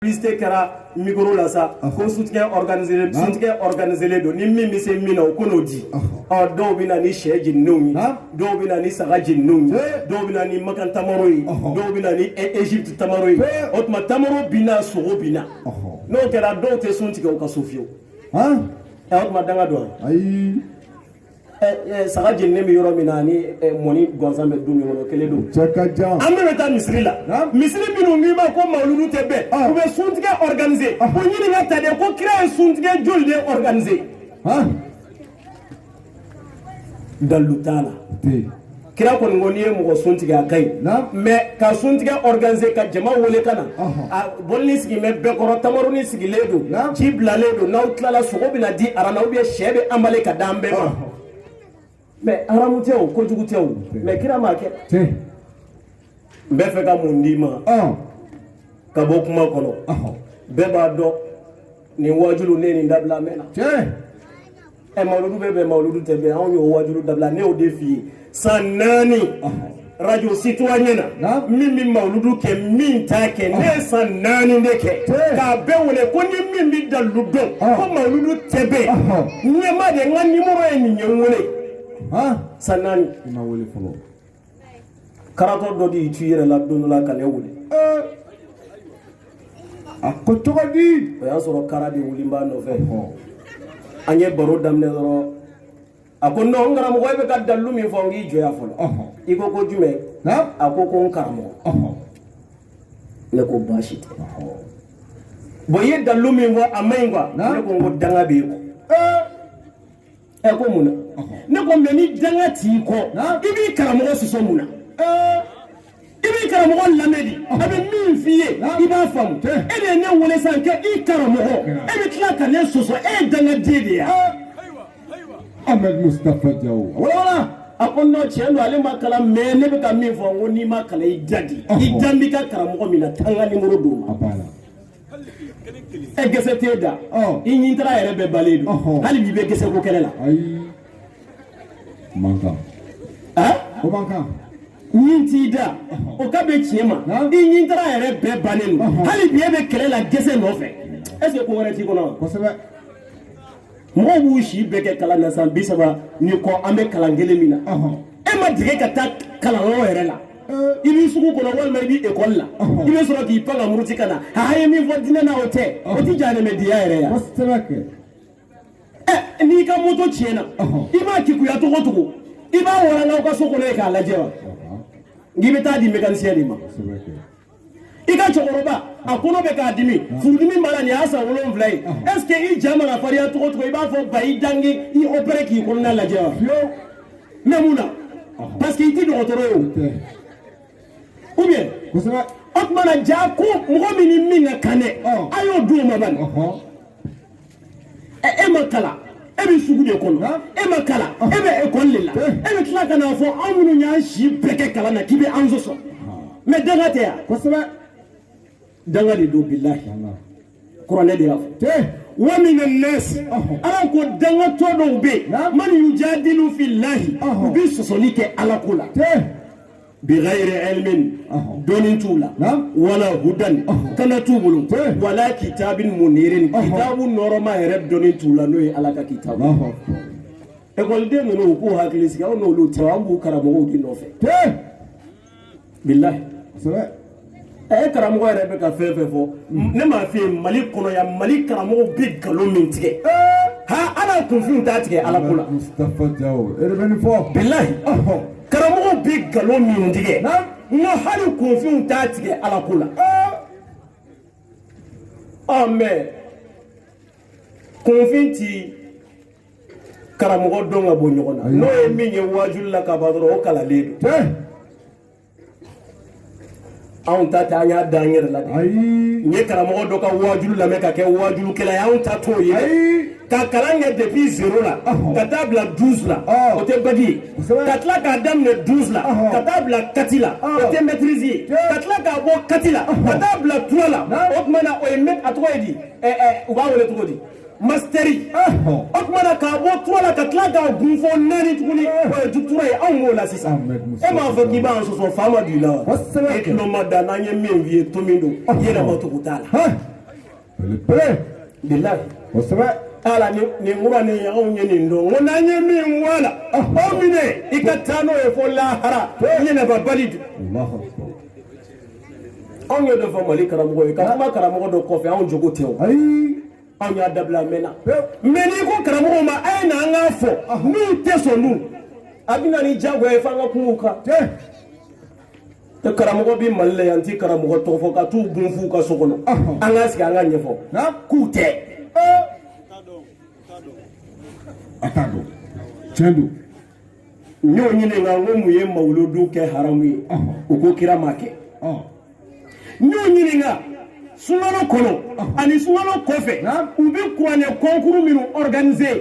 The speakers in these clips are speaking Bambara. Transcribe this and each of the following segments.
publicité kɛra micro la sa ko suntigɛ organisé suntigɛ organisé don ni min bɛ se min na o ko n'o di ɔ dɔw bɛ na ni sɛ jeninnenw ye dɔw bɛ na ni saga jeninnenw ye dɔw bɛ na ni makan tamaro ye dɔw bɛ na ni Egypte tamaro ye o tuma tamaro bi na sogo bi na n'o kɛra dɔw tɛ sun tigɛ u ka so fiyewu ɔ o tuma danga don wa ayi saga jeninnen bɛ yɔrɔ min na ani mɔni gansan bɛ du min kɔnɔ kelen don. cɛ ka jan. an bɛɛ bɛ taa misiri la. misiri minnu ɲɛmaa ko mawuludu tɛ bɛn. u bɛ suntigɛ organiser. ko ɲininka ta de ko kira ye suntigɛ joli de organiser. dalilu t'a la. kira kɔni ko n'i ye mɔgɔ sun tigɛ a ka ɲi mais ka sun tigɛ organiser ka jama wele ka na a bɔlini sigilen bɛ bɛɛ kɔrɔ tamaroni sigilen don ji bilalen don n'aw tilala sogo bɛna di aran na ou bien sɛ bɛ emballé ka d'an bɛɛ ma mais haramu tɛ o kojugu tɛ o mais kira m'a kɛ n bɛ fɛ ka mun d'i ma ka bɔ kuma kɔnɔ bɛɛ b'a dɔn nin wajulu ne nin dabila mɛnna ɛ mawuludu bɛ bɛn mawuludu tɛ bɛn anw y'o wajulu dabila ne y'o de f'i ye san naani radio citoyen na min bɛ mawuludu kɛ min t'a kɛ ne ye san naani de kɛ k'a bɛɛ wele ko ni min bɛ dalilu dɔn ko mawuludu tɛ bɛn ɲɛ n ma dɛ n ka nimoro ye nin ye n wele san naani. karatɔ dɔ de y'i tu yɛrɛ la don dɔ la ka ne wele a ko cogo di o y'a sɔrɔ kara de wulilen b'a nɔfɛ an ye baro daminɛ dɔrɔn a ko non n karamɔgɔ e bɛ ka dalilu min fɔ n k'i jɔ yan fɔlɔ i ko ko jumɛn a ko ko n karamɔgɔ ne ko baasi tɛ bon i ye dalilu min fɔ a ma ɲi quoi ne ko n ko danga b'i kɔ ɛ ko mun na ne ko mais ni danga t'i kɔ i b'i karamɔgɔ sɔsɔ mun na i b'i karamɔgɔ lamɛn de a bɛ min f'i ye i b'a faamu e de ye ne wele sisan kɛ i karamɔgɔ e bɛ tila ka ne sɔsɔ e ye dangaden de ye ahmed mustapha diallo walawala a ko non tiɲɛ don ale ma kalan mais ne bɛ ka min fɔ n ko n'i ma kalan i da de i dalen b'i ka karamɔgɔ min na taa n ka nimoro d'o ma e gese t'e da i ɲintara yɛrɛ bɛɛ bannen don hali bi bɛ gese ko kɛlɛ la mankan o mankan ɲin t'i da o ka bɛ tiɲɛ ma i ɲintara yɛrɛ bɛɛ bannen don hali bi e bɛ kɛlɛ la gese nɔfɛ est ce que ko wɛrɛ t'i kɔnɔ wa. mɔgɔw b'u si bɛɛ kɛ kalan na san bi saba ni kɔ an bɛ kalan kelen min na e ma deli ka taa kalanyɔrɔ yɛrɛ la i bɛ sugu kɔnɔ walima i bɛ ekɔli la i bɛ sɔrɔ k'i pan ka muruti ka na a ye min fɔ diinɛ na o tɛ o tɛ jahanɛmɛdenya yɛrɛ ya ɛ n'i ka moto tiɲɛna i b'a keguya cogo cogo i b'a waraka aw ka so kɔnɔ yen k'a lajɛ wa n'i bɛ taa di mécanicien de ma i ka cɛkɔrɔba a kɔnɔ bɛ k'a dimi furudimi b'a la nin y'a san wolonwula ye est ce que i ja mana fariya cogo cogo i b'a fɔ ba i da n k'i opéré k'i kɔnɔna lajɛ wa mais mun na parce que i tɛ dɔgɔtɔrɔ ye o ou bien o tuma na ja ko mɔgɔ min ni min ka kan dɛ a y'o di o ma bani e ma kalan e bɛ sugu de kɔnɔ e ma kalan e bɛ ekɔli de la e bɛ tila ka n'a fɔ anw minnu y'an si bɛɛ kɛ kalan na k'i bɛ an sɔsɔ mais danga tɛ yan kosɛbɛ danga de don bilahi kuranɛ de y'a fɔ wa mina nasi ala ko dangatɔ dɔw bɛ yen man yujadilu fillahi u bɛ sɔsɔli kɛ ala ko la bi ghairi ilmin dɔnni t'u la wala hudan kanda t'u bolo wala kitabin munirin kitabu nɔɔrɔma yɛrɛ dɔnni t'u la n'o ye ala ka kitabu ekɔliden ninnu u k'u hakili sigi anw n'olu tɛ an b'u karamɔgɔw de nɔfɛ bilahi a ye karamɔgɔ yɛrɛ bɛ ka fɛn fɛn fɔ ne m'a f'i ye mali kɔnɔ yan mali karamɔgɔw bɛ nkalon min tigɛ hali kunfin t'a tigɛ ala ko la bilahi karamɔgɔw bɛ nkalon min tigɛ n ko hali kunfin t'a tigɛ ala ko la ɔ mais kunfin ti karamɔgɔ dɔn ka bɔ ɲɔgɔn na n'o ye min ye waajuli la kaban dɔrɔn o kalannen don anw ta tɛ an y'a da an yɛrɛ la de n ye karamɔgɔ dɔ ka waajulu lamɛn ka kɛ waajulukɛla ye anw ta t'o ye ka kalan kɛ depuis zéro la ka taa bila douze la o tɛ bac ye ka tila k'a daminɛ douze la ka taa bila quatre la o tɛ maîtrise ye ka tila k'a bɔ quatre la ka taa bila trois la o tuma na o ye a tɔgɔ ye di u b'a wele cogo di masitɛri o tuma na k'a bɔ trois la ka tila k'a gun fo naani tuguni o ye doctorat ye anw b'o la sisan e m'a fɔ k'i b'an sɔsɔ fa ma don i la wa e tulo mada n'an ye min f'i ye to min don i yɛrɛ ma tugu t'a la belebele bilayi kosɛbɛ ala ni kuranɛ anw ye nin dɔn ko n'an ye min bɔ a la o minɛ i ka taa n'o ye fo lahara ɲinɛba bali don. anw ye dɔ fɔ mali karamɔgɔ ye ka kuma karamɔgɔ dɔ kɔfɛ anw jogo tɛ o ayi anw y'a dabila a mɛnna mais n'i ko karamɔgɔw ma a ye na an k'a fɔ n'u tɛ sɔn dun a bɛ na ni jagoya ye f'an ka kuma u kan dɛ karamɔgɔ bɛ mali la yan n ti karamɔgɔ tɔgɔ fɔ ka t'u gun f'u ka so kɔnɔ an k'a sigi an ka ɲɛfɔ k'u tɛ a t'a dɔn tiɲɛ don n y'o ɲininka n ko mun ye mawuludu kɛ haramu ye u ko kira m'a kɛ n y'o ɲininka sunkalo kɔnɔ ani sunkalo kɔfɛ u bɛ kuranɛ concours minnu organiser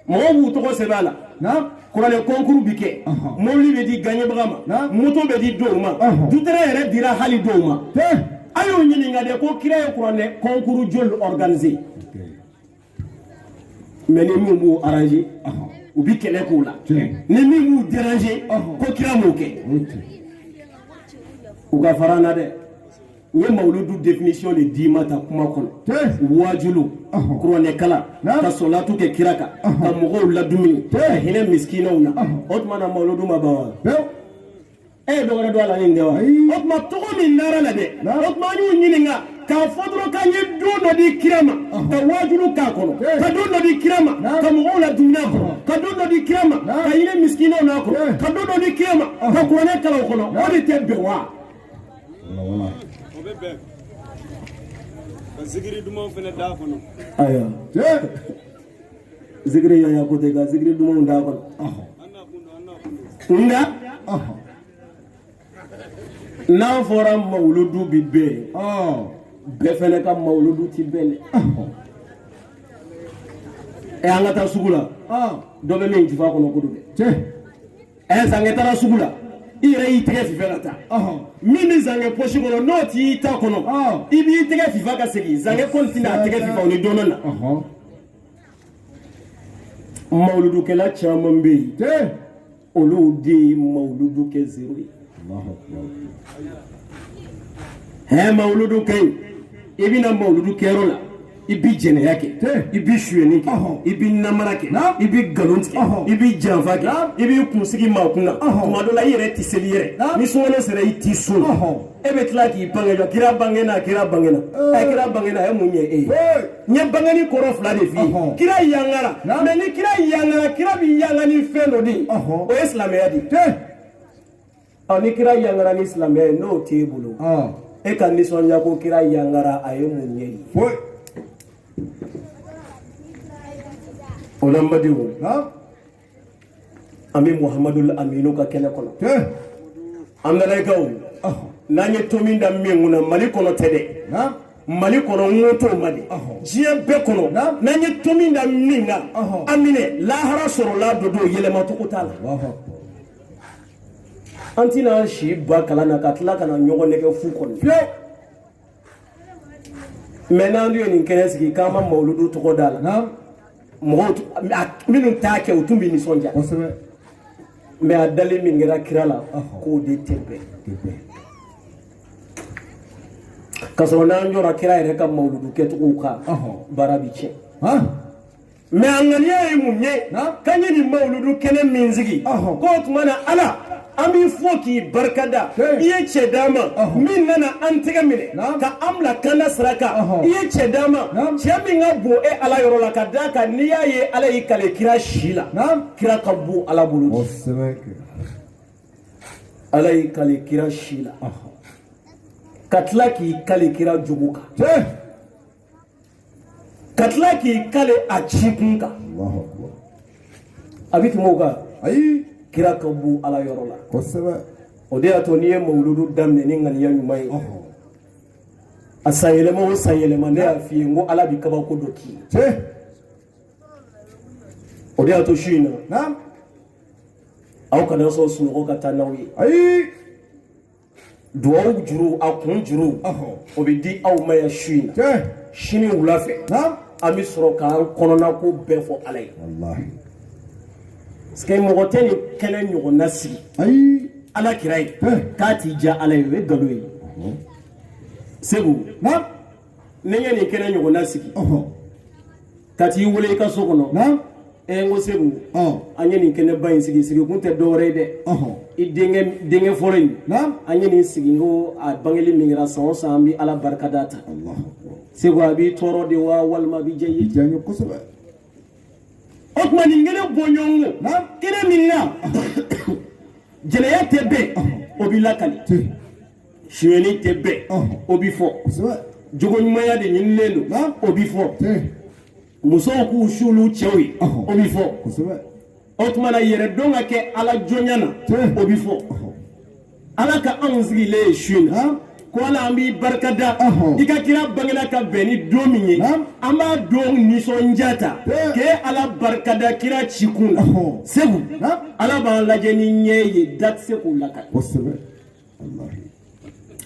mɔgɔw b'u tɔgɔ sɛbɛn a la kuranɛ concours bɛ kɛ mobili bɛ di gaɲɛbaga ma moto bɛ di dɔw ma dutɛrɛ yɛrɛ dira hali dɔw ma a y'o ɲininka de ko kira ye kuranɛ concours joli organiser mais ni min b'u arranger u bɛ kɛlɛ k'u la ni min b'u déranger ko kira m'o kɛ u ka fara n na dɛ u ye mawuludu définition de d'i ma ta kuma kɔnɔ waajulu kuranɛkalan ka sɔlatu kɛ kira kan ka mɔgɔw ladumuni ka hinɛ misikinaw na o tuma na mawuludu ma ban wa e ye dɔgɔrɛ dɔn a la ni nin tɛ wa o tuma tɔgɔ min dara a la dɛ o tuma an y'u ɲininka k'a fɔ dɔrɔn k'an ye don dɔ di kira ma ka waajulu k'a kɔnɔ ka don dɔ di kira ma ka mɔgɔw ladumuni a kɔnɔ ka don dɔ di kira ma ka hinɛ misikinaw n'a kɔnɔ ka don dɔ di kira ma ka kuranɛ kalan o kɔnɔ o de tɛ bɛn wa ka zikiri dumanw fana d'a kɔnɔ ayiwa zikiri yaya ko tɛ ka zikiri dumanw d'a kɔnɔ nka n'a fɔra mawuludu bi bɛn bɛɛ fɛnɛ ka mawuludu ti bɛn dɛ ɛ an ka taa sugu la dɔ bɛ min jufa kɔnɔ ko don dɛ ɛ zankɛ taara sugu la i yɛrɛ y'i tɛgɛ fifa ka taa min bɛ zankɛ pɔsi kɔnɔ n'o t'i ta kɔnɔ i b'i tɛgɛ fifa ka segin zankɛ kɔni tɛna a tɛgɛ fifa o ni dɔɔnin na mawuludukɛla caman bɛ yen olu de ye mawuludu kɛ zero ye hɛ mawuludu kɛ yen i bɛna mawuludu kɛyɔrɔ la i bi jɛnɛya kɛ i bi suyɛni kɛ i bi namara kɛ i bi nkalon tigɛ i bi janfa kɛ i b'i kunsigi maa kun na tuma dɔ la i yɛrɛ tɛ seli yɛrɛ ni sunkalo sera i t'i sun e bɛ tila k'i bange la kira bangena kira bangena ɛ kira bangena a ye mun ɲɛ e ye n ye bangeni kɔrɔ fila de f'i ye kira yangara mais ni kira yangara kira bɛ yanga ni fɛn dɔ de ye o ye silamɛya de ye ɔ ni kira yangara ni silamɛya ye n'o t'e bolo e ka nisɔndiya ko kira yangara a ye mun ɲɛ e ye o la n badenw an bɛ muhamadu aminu ka kɛnɛ kɔnɔ an nanaikaw n'an ye to min da min kunna mali kɔnɔ tɛ dɛ mali kɔnɔ n ko t'o ma dɛ diɲɛ bɛɛ kɔnɔ n'an ye to min da min na an minɛ lahara sɔrɔla dɔ don yɛlɛma cogo t'a la an tɛna si ban kalan na ka tila ka na ɲɔgɔn nɛgɛn fu kɔnɔ mais n'an ye nin kɛnɛ sigi k'an ma mawuludu tɔgɔ d'a la mɔgɔw minnu t'a kɛ u tun bɛ nisɔndiya mais a dalen min kɛra kira la k'o de tɛ bɛn ka sɔrɔ n'an jɔra kira yɛrɛ ka mawuludu kɛcogow kan baara bɛ tiɲɛ mais a ŋaniya ye mun ye k'an ye nin mawuludu kɛnɛ min sigi k'o tuma na ala an b'i fo k'i barikada i ye cɛ d'an ma min nana an tɛgɛ minɛ ka an bila kanda sira kan i ye cɛ d'an ma cɛ min ka bon e ala yɔrɔ la ka d'a kan n'i y'a ye ala y'i kale kira si la kira ka bon ala bolo ala y'i kale kira si la ka tila k'i kale kira jogo kan ka tila k'i kale a ci kun kan a bɛ tɛmɛ o kan ayi kira ka bon ala yɔrɔ la kosɛbɛ o de y'a to n'i ye mawuludu daminɛ ni ŋaniya ɲuman ye a san yɛlɛma o san yɛlɛma ne y'a f'i ye n ko ala bɛ kabako dɔ k'i ye o de y'a to su in na aw kana sɔn sunɔgɔ ka taa n'aw ye ayi duwawu juru a kun juru o bɛ di aw ma yan su in na sini wula fɛ an bɛ sɔrɔ k'an kɔnɔna ko bɛɛ fɔ ala ye parce que mɔgɔ tɛ nin kɛnɛ ɲɔgɔnna sigi ala kira ye k'a t'i diya ala ye o ye nkalon ye seku ne ye nin kɛnɛ ɲɔgɔnna sigi ka t'i wele i ka so kɔnɔ ɛ n ko seku an ye nin kɛnɛba in sigi sigi kun tɛ dɔwɛrɛ ye dɛ i denkɛ fɔlɔ in an ye nin sigi ko a bangeli min kɛra san o san an bɛ ala barika da ta seku a b'i tɔɔrɔ de wa walima a bɛ diya i ye kosɛbɛ o tuma nin kɛnɛ bɔɲɔgɔnko kɛnɛ min na jɛnɛya tɛ bɛn o bɛ lakali sonyɛni tɛ bɛn o bɛ fɔ jogo ɲumanya de ɲinilen don o bɛ fɔ musow k'u suuli cɛw ye o bɛ fɔ o tuma na yɛrɛdɔn ka kɛ ala jɔnya na o bɛ fɔ ala ka anw sigilen ye su in na ko ala an b'i barika da i ka kira bangena ka bɛn ni don min ye an b'a don nisɔndiya ta k'e ala barikada kira ci kun na seku ala b'an lajɛ ni ɲɛ ye da tɛ se k'o lakali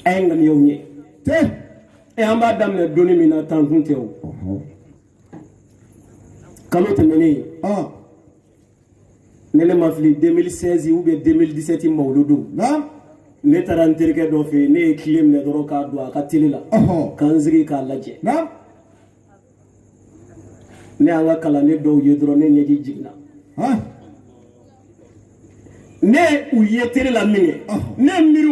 a ye ŋaniyaw ɲɛ an b'a daminɛ donni min na tan tun tɛ o kalo tɛmɛnen ni ne ma fili 2016 ou bien 2017 mawuludu ne taara n terikɛ dɔ fɛ yen ne ye kile minɛ dɔrɔn k'a don a ka tele la ka n sigi k'a lajɛ ne y'an ka kalanden dɔw ye dɔrɔn ne ɲɛji jiginna ne u ye tele la min kɛ ne miiri